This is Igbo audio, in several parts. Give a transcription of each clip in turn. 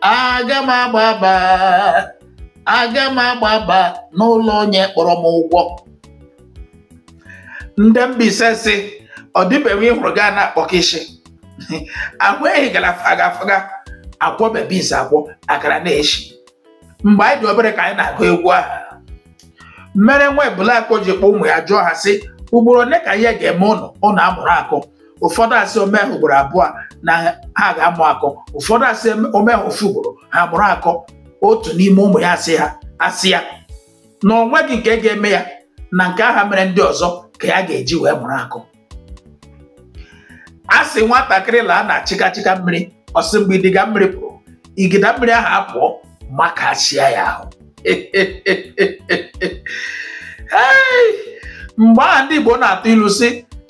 aga m agbaba aga m agbaba n'ụlọ onye kpọrọ m ụgwọ ndị Mbaise sị ọ dịbeghị ịhụrụ gaa na-akpọ kịshị ahụ ehi gara faga faga akwọ bebis akwọ akara na-eshi mgbe anyị dị obere ka anyị na-agụ egwu aha mere nwa ebule akọ ji kpọ ụmụ ya jụọ ha sị ugboro ole ka ihe ga-eme ụnụ ụnụ amụrụ akọ ụfọdụ asị o mee ugboro abụọ na ha ga-amụ akọ ụfọdụ asị o mee ofu ugboro ha mụrụ akọ otu n'ime ụmụ ya asị ha asị ya na o nweghị nke ga-eme ya na nke aha mere ndị ọzọ ka ya ga-eji wee mụrụ akọ a sị nwatakịrị laa na chịkachịka mmiri ọ sị mgbe idiga mmiri pụrụ igida mmiri ahụ apụọ makachia ya ahụ mgbe aha ndị Igbo na-atụ ilu sị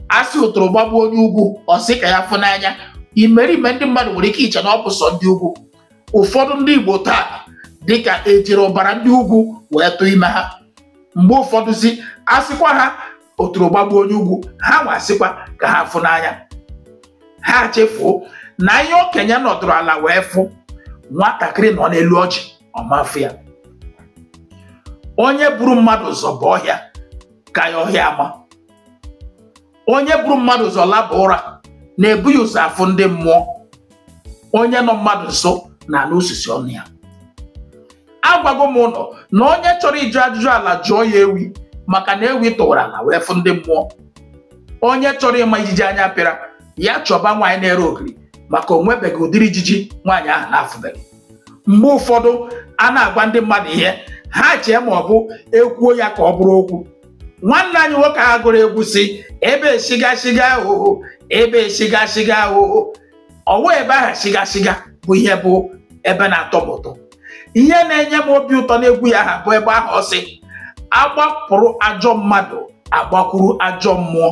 a sị otoro gbagbuo onye ugwu ọ sị ka ya fụ n'anya imerime ndị mmadụ nwere ike iche na ọ bụ sọ ndị ugwu ụfọdụ ndị Igbo taa dịka e jiri ọbara ndị ugwu wee tụọ ime ha mgbe ụfọdụ si asịkwa ha otoro gbagbuo onye ugwu ha nwa asịkwa ka ha fụ n'anya ha chefuo na ihe okenye nọdụrụ ala wee fụ nwatakịrị nọ n'elu ọjị ọ ma afụ ya onye buru mmadụ ụzọ baa ọhịa ka ya ọhịa ama onye buru mmadụ ụzọ laba ụra na-ebu ya ụzọ afụ ndị mmụọ onye nọ mmadụ nso na-anụ isisi ọnụ ya agwago m ụnụ na onye chọrọ ịjụ ajụjụ ala jụọ ya ewi maka na ewi tụwara ala wee fụ ndị mmụọ onye chọrọ ịma ijiji anya pịara ya chọba nwaanyị na-ere ogiri maka o nwebeghị ụdịrị ijiji nwaanyị ahụ na-afụbeghị mgbe ụfọdụ a na-agwa ndị mmadụ ihe ha chee ma ọ bụ e kwuo ya ka ọ bụrụ okwu nwanne anyị nwoke aha gụrụ egwu sị ebe shiga shiga ohoho ebe shiga shiga ohoho ọwa ebe ahụ shiga shiga bụ ihe bụ ebe na-atọ m ụtọ ihe na-enye m obi ụtọ n'egwu ya aha bụ ebe ahụ ọ sị a gbapụrụ ajọ mmadụ a gbakwuru ajọ mmụọ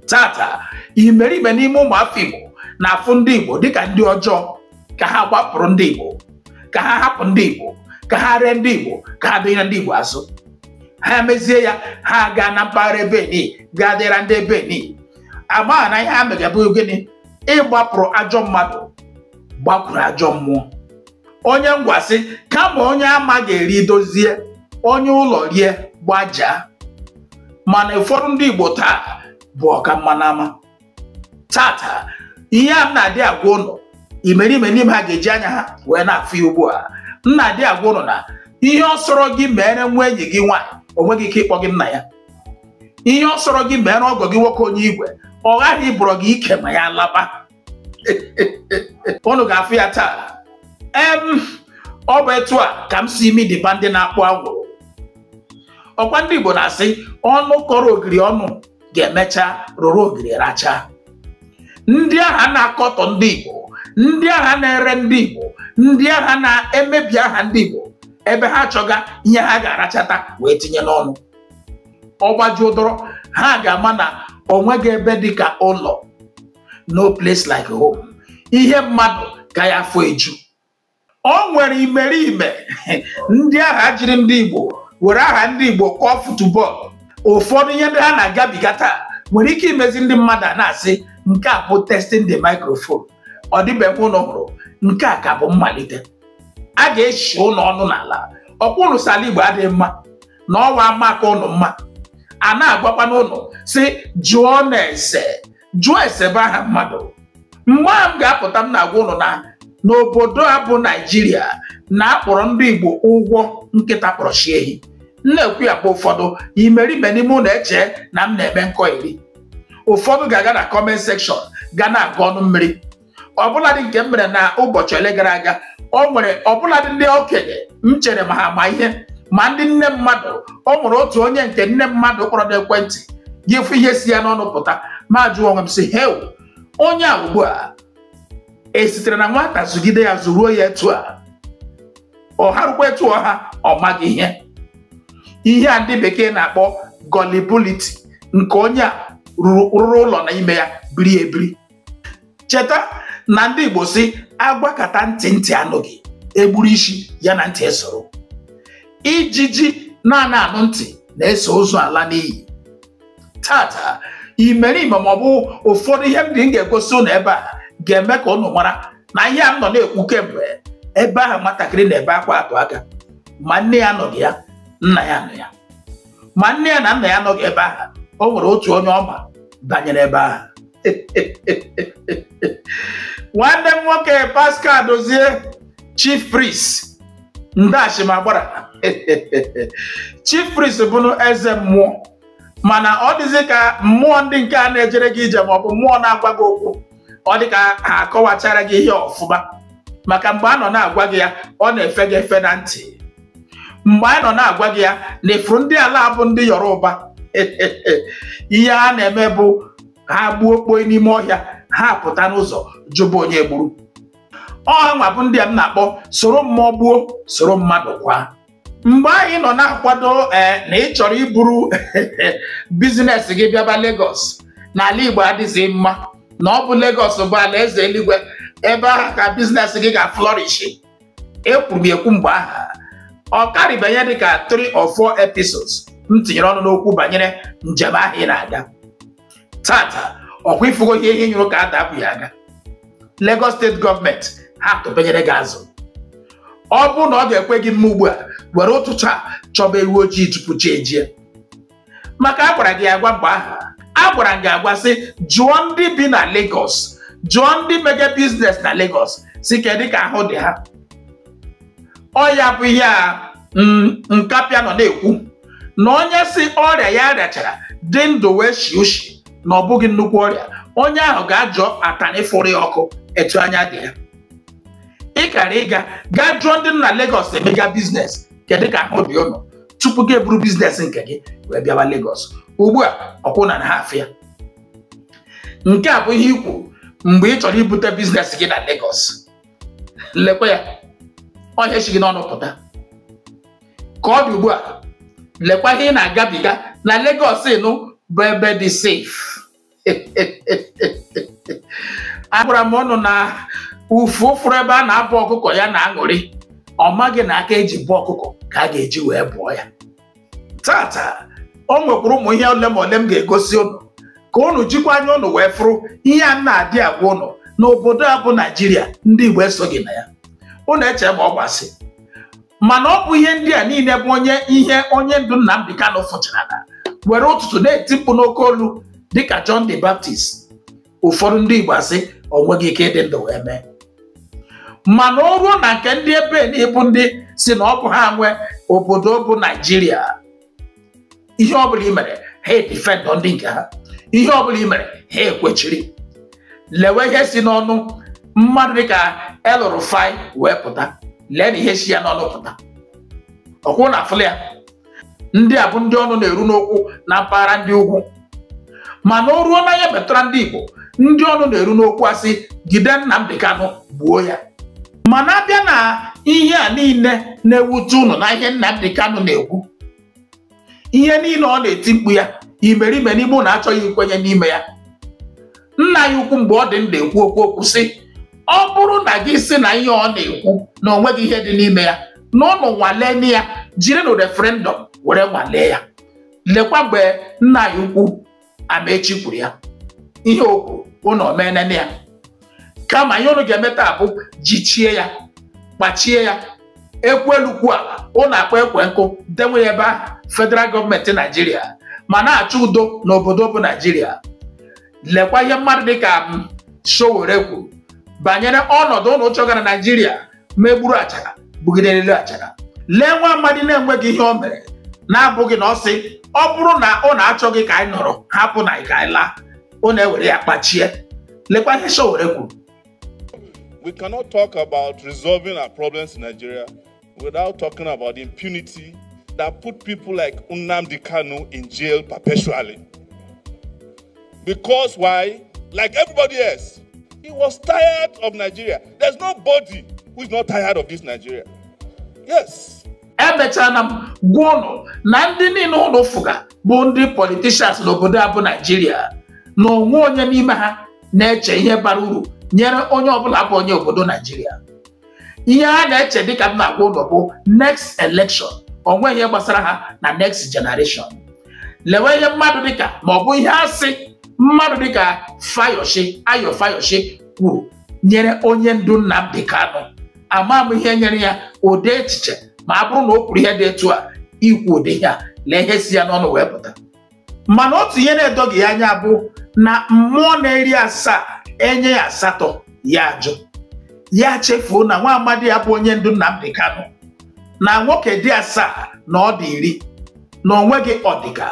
tata imerime n'ime ụmụ afọ Igbo na-afụ ndị Igbo dịka ndị ọjọọ ka ha gbapụrụ ndị Igbo ka ha hapụ ndị Igbo ka ha ree ndị Igbo ka ha dịnyere ndị Igbo azụ ha mezie ya ha gaa na mpaghara Benin gaa dịra ndị Benin amaghị na ihe ha mega bụ gịnị ịgbapụrụ ajọ mmadụ gbakwuru ajọ mmụọ onye Ngwa sị kama onye ama ga-eri dozie onye ụlọ rie gbajaa mana ụfọdụ ndị Igbo taa bụ ọka mma n'ama tata ihe a m na-adị agwa ụnụ imerime n'ime ha ga-eji anya ha wee na-afụ ya ugbu a m na-adị agwa ụnụ na ihe ọ sọrọ gị meere nwa enyi gị nwaanyị o nweghị ike ịkpọ gị nna ya ihe ọ sọrọ gị meere ọgọ gị nwoke onye igwe ọ ghaghị ịbụrọ gị ike ma ya laba unu ga-afụ ya taa em ọ bụ etu a ka m sị imi dịba ndị na-akpụ anwụrụ ọkwa ndị Igbo na-asị ọnụ kọrọ ogiri ọnụ ga-emecha rụrụ ogiri rachaa ndị ahụ na-akọtọ ndị Igbo ndị ahụ na-ere ndị Igbo ndị ahụ na-emebi aha ndị Igbo ebe ha chọga ihe ha ga-arachata wee tinye n'ọnụ ọ gbajuo dọrọ ha ga-ama na onweghị ebe dị ka ụlọ no place like home ihe mmadụ ka ya afọ eju ọ nwere imerime ndị ahụ jiri ndị Igbo were aha ndị Igbo kọọ futubọọlụ ụfọdụ ihe ndị ha na-agabiga taa nwere ike imezi ndị mmadụ a na-asị nke a bụ testing the microphone ọ dịbeghị ụnụ hụrụ nke a ka bụ mmalite a ga-eshi ụnụ ọnụ n'ala ọkwa ụnụ sị ala Igbo adịghị mma na ọ wụ ama ka ụnụ mma a na-agwakwanụ ụnụ sị jụọnụ ese jụọ ese bụ aha mmadụ mgbe ahụ m ga-apụta m na-agwa ụnụ na n'obodo a bụ naijiria na a kpọrọ ndị igbo ụgwụ nkịta kpọrọ nsị ehi m na-ekwu ya bụ ụfọdụ imerime n'ime ụnụ eche na m na-eme nkọ iri ụfọdụ ga-aga na comment section ga na-agụ ọnụ mmiri ọbụladị nke m mere na ụbọchị ole gara aga o nwere ọbụladị ndị okenye m chere ma ha ma ihe ma ndị nne mmadụ o nwere otu onye nke nne mmadụ kpọrọ n'ekwentị gị fụ ihe si ya n'ọnụ pụta m ajụọ onwe m sị heu onye a ugbu a e sitere na nwata zụgide ya zụruo ya etu a ọ haruokwa etu ọ ha ọ maghị ihe ihe a ndị bekee na-akpọ gullibility nke onye a rụrụ ụlọ na ime ya biri ebiri cheta na ndị Igbo sị a gwakata ntị ntị anụghị e gburu isi ya na ntị esoro ijiji na-ana anụ ntị na-eso ozu ala n'inyi taa taa imerime ma ọ bụ ụfọdụ ihe ndị m ga-egosi ụnụ ebe a ga-eme ka ụnụ mara na ihe a m nọ na-ekwu kemgbe ebe ahụ nwatakịrị na-ebe akwa atụ aka ma nne ya anọghị ya nna ya nọ ya ma nne ya na nna ya anọghị ebe ahụ o nwere otu onye ọ ma banyere ebe ahụ nwanne m nwoke Pascal Dozie chief priest nde chi ma agbara chief priest bụnụ eze mmụọ mana ọ dịzị ka mmụọ ndị nke a na-ejere gị ije maọbụ mmụọ na-agwa gị okwu ọ dị ka ha akọwachara gị ihe ọfụma maka mgbe a nọ na-agwa gị ya ọ na-efe gị efe na ntị mgbe anyị nọ na-agwa gị ya na ị fụrụ ndị ala a bụ ndị yoruba ihe ha na-eme bụ ha gbuo kpoi n'ime ọhịa ha pụta n'ụzọ jụba onye gburu ọ hanwa bụ ndị a m na-akpọ soro mmụọ gbuo soro mmadụ kwaa mgbe anyị nọ na-akwado eh, na ị chọrọ iburu business gị bịaba Lagos na ala Igbo adịghị mma na ọ bụ Lagos bụ ala eze eluigwe ebe ahụ ka business gị ga-aflourish ekwuru m ekwu mgbe ahụ ọ karịbanye dị ka 3 or 4 episodes m tinyere ọnụ n'okwu banyere njem ahụ ị na-aga taata ọkwa ị fụgo ihe ihe nyụrụ ka ada abụ ya aga Lagos state government ha atụpenyere gị azụ ọ bụrụ na ọ ga-ekwe gị mme ugbu a were ụtụtụ a chọba ewu ojii tupu chi ejie maka a gwara gị agwa mgbe ahụ a gwara gị agwa sị jụọ ndị bi na Lagos jụọ ndị mega business na Lagos sị kedụ ka ahụ dị ha ọ ya bụ ihe a mm, nkapịa nọ na-ekwu na onye sị ọrịa ya rịachara dị ndụ wee shi ushi na ọ bụghị nnukwu ọrịa onye ahụ gaa jụọ atanị fụrụ ya ọkụ etu anya dị ya ị kara ịga gaa jụọ ndị nọ na Lagos emega business kedu ka ahụ dị ụnụ tupu gị eburu business nke gị wee bịawa Lagos ugbu a ọkwa ụnụ na-afụ ya nke a bụ ihe i kwu mgbe ị chọrọ ibute business gị na Lagos lekwa ya ọ ihe shi gị n'ọnụ pụta ka ọ dị ugbu a lekwa ihe ị na-agabiga na Lagos ị nụ bụ ebe dị safe agwara m ụnụ na ufu fụrụ ebe a na-abọ ọkụkọ ya na-aṅụrị ọ maghị na aka e ji bọọ ọkụkọ ka a ga-eji wee bọọ ya taata o nwekwuru ụmụ ihe ole ma ole m ga-egosi ụnụ ka ụnụ jikwa anya ụnụ wee fụrụ ihe a na-adị agwa ụnụ na obodo a bụ naijiria ndị igbo esoghị na ya ụnụ eche ma ọ bụ asị mana ọ bụ ihe ndị a niile bụ onye ihe onye ndu Nnamdi Kanu fụchara na were ụtụtụ na-eti mkpu n'oke olu dịka John the Baptist ụfọdụ ndị Igbo asị o nweghị ike ịdị ndụ wee mee mana o ruo na nke ndị ebe nị bụ ndị sị na ọ bụ ha nwe obodo bụ Naijiria ihe ọbụla i mere ha edifendọ ndị nke ha ihe ọbụla i mere ha ekwechiri lewe ihe si n'ọnụ mmadụ dịka El-Rufai wee pụta lee na ihe si ya n'ọnụ pụta ọkwa ụnụ afụla ya ndị a bụ ndị ọnụ na-eru n'okwu na mpaghara ndị ugwu mana o ruo na ya metụra ndị Igbo ndị ọnụ na-eru n'okwu asị jide Nnamdi Kanu gbuo ya mana a bịa na ihe a niile na-ewute ụnụ na ihe Nnamdi Kanu na-ekwu ihe niile ọ na-eti mkpu ya imerime n'ime ụnụ achọghị ikwenye n'ime ya nna ya ukwu mgbe ọ dị ndụ ekwu okwu o kwu sị ọ bụrụ na gị sị na ihe ọ na-ekwu na o nweghị ihe dị n'ime ya na ụnụ nwalee ya jirinụ referendum were nwalee ya lekwa mgbe nna ya ukwu Amaechi kwuru ya ihe o kwuru unu omenene ya kama ihe unu ga-eme taa bụ jichie ya kpachie ya ekwu elu kwu ala unu akpa ekwe nkụ denwe ya ebe ahụ federal gọọmenti naijiria ma na-achọ udo n'obodo bụ naijiria lekwa ihe mmadụ dịka Sowore kwuru banyere ọnọdụ unu chọgara naijiria megburu achara bugide elu achara lee nwa amadi na-enweghị ihe o mere na-abụghị na ọ sị ọ bụrụ na ụnụ achọghị ka anyị nọrọ hapụnụ anyị ka anyị laa ụnụ ewere ya kpachie lekwa ihe Sowore kwuru we cannot talk about resolving our problems in Nigeria without talking about the impunity that put people like Nnamdi Kanu in jail perpetually. Because why? Like everybody else, he was tired of Nigeria. There's nobody who is not tired of this Nigeria. Yes. emechana m gwa ụnụ na ndị niile ụnụ fụga bụ ndị politishans n'obodo a bụ naijiria na onweghị onye n'ime ha na-eche ihe bara uru nyere onye ọbụla bụ onye obodo naijiria ihe ha na-eche dịka m na-agwa ụnụ bụ next election onweghị ihe gbasara ha na next generation lewe ihe mmadụ dịka ma ọ bụ ihe asị mmadụ dịka Fayose Ayo Fayose kwuru nyere onye ndu Nnamdi Kanu ama m ihe nyere ya ụdị echiche ma a bụrụ na o kwuru ihe dị etu a ikwu ụdị ihe a lee ihe si ya n'ọnụ wee pụta mana otu ihe na-edoghị ya anya bụ na mmụọ na-eri asaa enye ya asatọ ya ajụ ya chefuo na nwa amadi a bụ onye ndu Nnamdi Kanu na nwoke dị asaa na ọ dị iri na onweghị ọdịga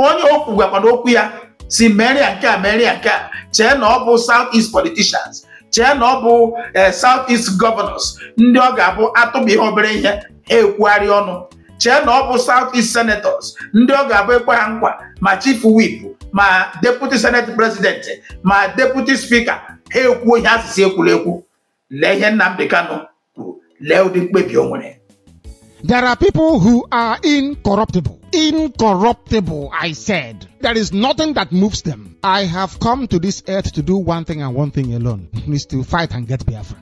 onye okwu gwakwana okwu ya sị mere ya nke a mere ya nke a chee na ọ bụ South East politicians chee na ọ bụ eh, South East governors ndị ọ ga-abụ atụpụ ihe obere ihe ha ekwugharị ọnụ chee na ọ bụ South East senators ndị ọ ga-abụ ekwe ha nkwa ma chief whip ma deputy senate president ma deputy speaker ha ekwuo ihe a sị sị ekwule ekwu lee ihe Nnamdi Kanu kwuru lee ụdị mkpebi o nwere There are people who are incorruptible. Incorruptible, I said. There is nothing that moves them. I have come to this earth to do one thing and one thing alone, is to fight and get Biafra.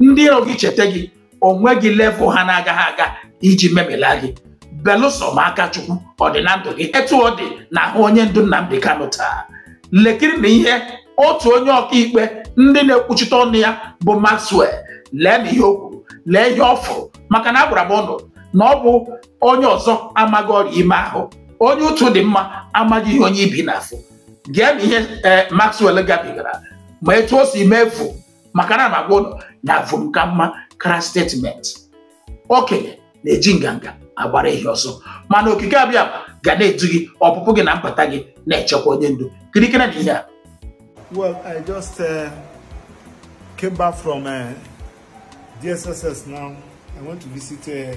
ndị iro gị cheta gị onweghị level ha na-agaghị aga iji memila gị belụsọ ma aka chukwu ọ dị na ndụ gị etu ọ dị na ahụ onye ndu Nnamdi Kanu taa lekirinụ ihe otu onye ọkaikpe ndị na-ekwuchite ọnụ ya bụ Maxwell leenụ ihe o kwuru lee ihe ọ fụrụ maka na agwara m ụnụ na ọ bụ onye ọzọ amaghị ọrịa ime ahụ onye utu dị mma amaghị ihe onye ibi na-afụ geenụ ihe Maxwell gabigara ma etu o si mefu maka na na-agwa ụnụ na vum ka mma kara statement okenye na-eji nganga agbara ehi ọsọ mana okike abịama ga na-edu gị ọpụpụ gị na mbata gị na-echekwa onye ndu kiriekene ihe a Well, I just uh, came back from uh, DSS now. I went to visit uh,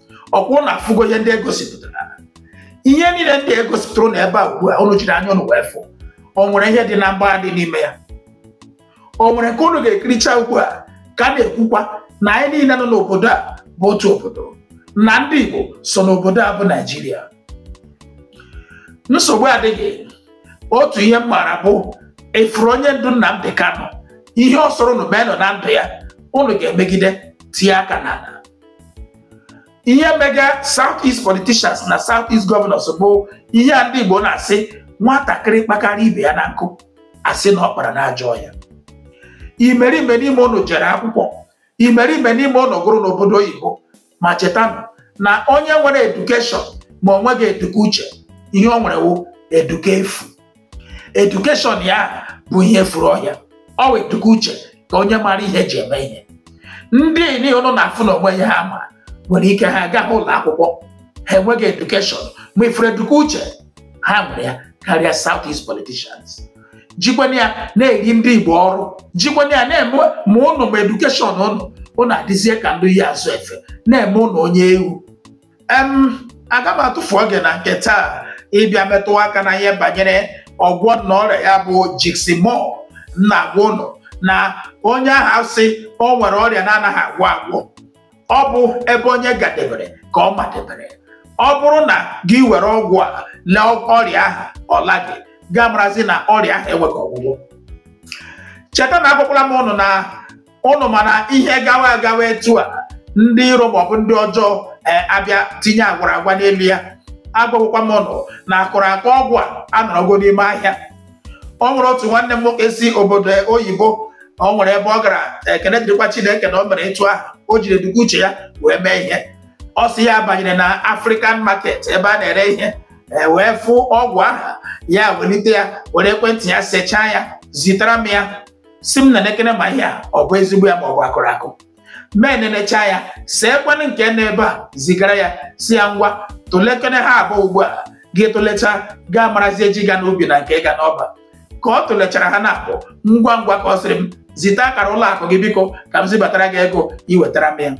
ọkwa ụnụ afụgo ihe ndị egosipụtara ihe niile ndị egosipụtara na ebe a ugbu a ụnụ jiri anya ụnụ wee fụ o nwere ihe dị na mgbagha dị n'ime ya o nwere nke ụnụ ga-ekiricha ugbu a ka a na-ekwukwa na anyị niile nọ n'obodo a bụ otu obodo na ndị Igbo so n'obodo a bụ Naijiria nsogbu adịghị otu ihe m maara bụ ị fụrụ onye ndu Nnamdi Kanu ihe ọ sọrọ unu meenụ na ndụ ya unu ga-emegide tie aka n'ala ihe mega south east politicians na south east governors bụ ihe a ndị Igbo na-asị nwatakịrị kpakarị ibe ya na nkụ a sị na ọ kpara n'ajọ ọhịa imerime n'ime ụnụ jere akwụkwọ imerime n'ime ụnụ gụrụ n'obodo oyibo ma chetanụ na onye nwere edukeshọn ma o nweghị eduka uche ihe o nwere wụ eduka efu edukeshọn ya bụ ihe furu ọhịa ọ wụ eduka uche ka onye mara ihe ji eme ihe ndị niile ụnụ na-afụ na o nweghị ihe ha ma nwere ike ha agaghị ụlọ akwụkwọ ha enweghị edukeshọn ma ị fụrụ eduka uche ha nwere ya karịa South East politicians jikwana ya na-eri ndị Igbo ọrụ jikwana ya na-eme ma ụnụ ma edukeshọn ụnụ ụnụ adịzie ka ndị ya azụ efe na-eme ụnụ onye ewu aga m atụfu oge na nke taa ịbịa metụ aka na ihe banyere ọgwọ nnụ ọrịa ya bụ Jigsimur na-agwa ụnụ na onye ahụ sị o nwere ọrịa na-anaghị agwọ agwọ ọ bụ ebe onye gadebere ka ọ madebere ọ bụrụ na gị were ọgwụ a lee ọrịa ahụ ọ laghị gị amarazi na ọrịa ahụ enweghị ọgwụgwọ cheta na agwakwala m ụnụ na ụnụ ma na ihe gawa agawa etu a ndị iro maọbụ ndị ọjọọ e, abịa tinye agwara agwa n'elu ya agwagokwa m ụnụ na akụrụ akụ ọgwụ a anọrọgo n'ime ahịa o nwere otu nwanne m nwoke si obodo oyibo o nwere ebe ọ gara ekene dịrịkwa chineke na o mere etu ahụ o jiri eduka uche ya wee mee ihe ọ sị ya banyere na african market ebe a na-ere ihe e, wee fụ ọgwụ aha ya welite ya were ekwentị ya sechaa ya zitara m ya sị m nenekene ma ihe a ọ bụ ezigbo ya ma ọ bụ akụrụ akụ m enenecha ya see kwanụ nke nọ ebe a zigara ya sị ya ngwa tụlekene ha abụọ ugbu a gị tụlecha gị amarazie ji ga n'ubi na nke ga n'ọba ka ọ tụlechara ha naabọ ngwa ngwa ka ọ sịrị m zite akara ụlọ akụ gị biko ka m zibatara gị ego i wetara m ya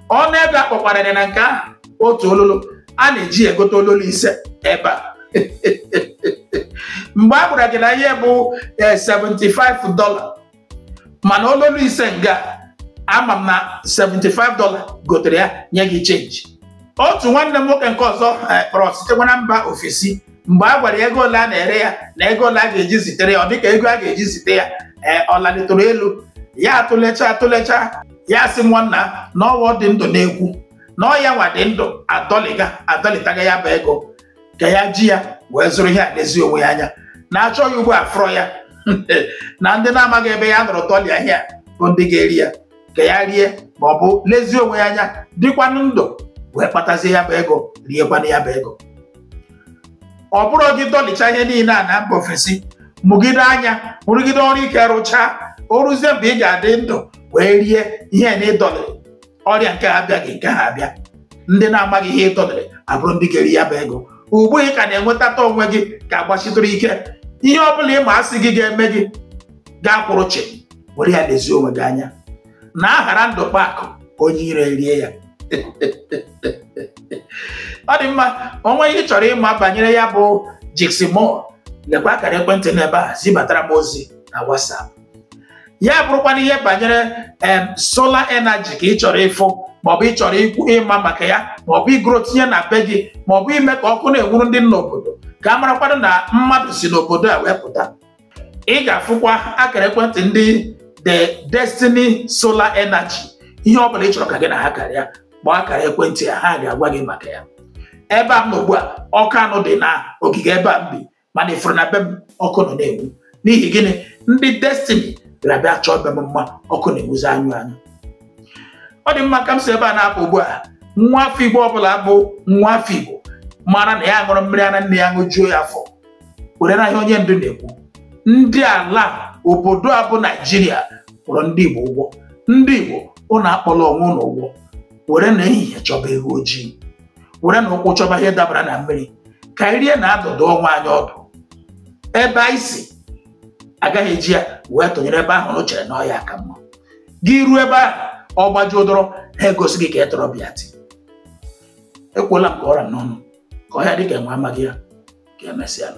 ọnụ ego a kpọkwara ya na nke ahụ otu ololo a na-eji egote ololo ise ebe a mgbe a gwara gị na ihe bụ 75 dọla mana ololo ise nga ama m na 75 dọla gotere ya nye gị chenji otu nwanne m nwoke nke ọzọ kpọrọ sitekwa na mba ofesi mgbe a gwara ya ego ole a na-ere ya na ego ole a ga-eji zitere ya ọ dịka ego a ga-eji zite ya ee ọ lalitụrụ elu ya atụlecha atụlecha ya sị nwanna na ọwa dị ndụ na-ekwu na ọ ya nwa dị ndụ adọlịga adọlịtaga ya bụ ego ka ya ji ya wee zụrụ ihe a lezie onwe ya anya na-achọghị ugbo a fụrọ ya na ndị na-amaghị ebe ya nọrọ dọlịa ihe a bụ ndị ga-eri ya ka ya rie ma ọ bụ lezie onwe ya anya dịkwanụ ndụ wee kpatazie ya bụ ego riekwanụ ya bụ ego ọ bụrụ gị dọlịcha ihe niile a na mba ofesi mụgide anya rụgide ọrụ ike rụchaa o ruzie mgbe ị ga-adị ndụ wee rie ihe na ị dọlịrị ọrịa nke ha abịaghị nke ha abịa ndị na-amaghị ihe ị dọlịrị abụrụ ndị ga-eri ya bụ ego ugbu ị ka na-enwetata onwe gị ka gbasitụrụ ike ihe ọ bụla ị ma sị gị ga-eme gị ga-akwụrụ chị were ya lezie onwe gị anya na a ghara ndụ kpaa akụ onye iro erie ya ọ dị mma o nwee ihe ị chọrọ ịma banyere ya bụ Jigsimur lekwa akara ekwentị n'ebe a zibatara m ozi na WhatsApp ya bụrụkwanụ ihe banyere em solar energy ka ị chọrọ ịfụ maọbụ ị chọrọ ikwu ịma maka ya maọbụ igoro tinye na be gị maọbụ ime ka ọkụ na-enwuru ndị nọ n'obodo ka a marakwanụ na mmadụ si n'obodo a wee pụta ị ga-afụkwa akara ekwentị ndị the destiny solar energy ihe ọ bụla ị chọrọ ka gị na ha karịa kpọọ akara ekwentị ha ga-agwa gị maka ya ebe a m nọ ugbu a ọkụ anụ dị na ogige ebe a m bi mana ị fụrụ na be m ọkụ nọ na-enwu n'ihi gịnị ndị destiny abịa chọọ be m mma ọkụ na-enwuzi anyụ anyụ ọ dị mma ka m si ebe a na-apụ ugbu a nwa afọ igbo ọbụla bụ nwa afọ igbo mara na ya ṅụrụ mmiri ara nne ya ṅụjuo ya afọ were na ihe onye ndu na-ekwu ndị ala obodo a bụ naijiria kpọrọ ndị igbo ụgwọ ndị igbo ụnụ akpọla onwe ụnụ ụgwọ were na ehihie chọba ewu ojii were na ụkwụ chọba ihe dabara na mmiri ka anyị rie na-adụdụ onwe anyị ọdụ ebe anyị si agaghị eji ya wee tụnyere ebe ahụ ị chere na ọ ya ka mma gị ruo ebe ahụ ọ gbajuo dọrọ ha egosi gị ka ị tọrọ bịa ti ekwuola m ka ọ ra m n'ọnụ ka ọ ya dịka enwe amaghị ya ka emesịa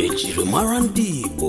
ejirimara ndị Igbo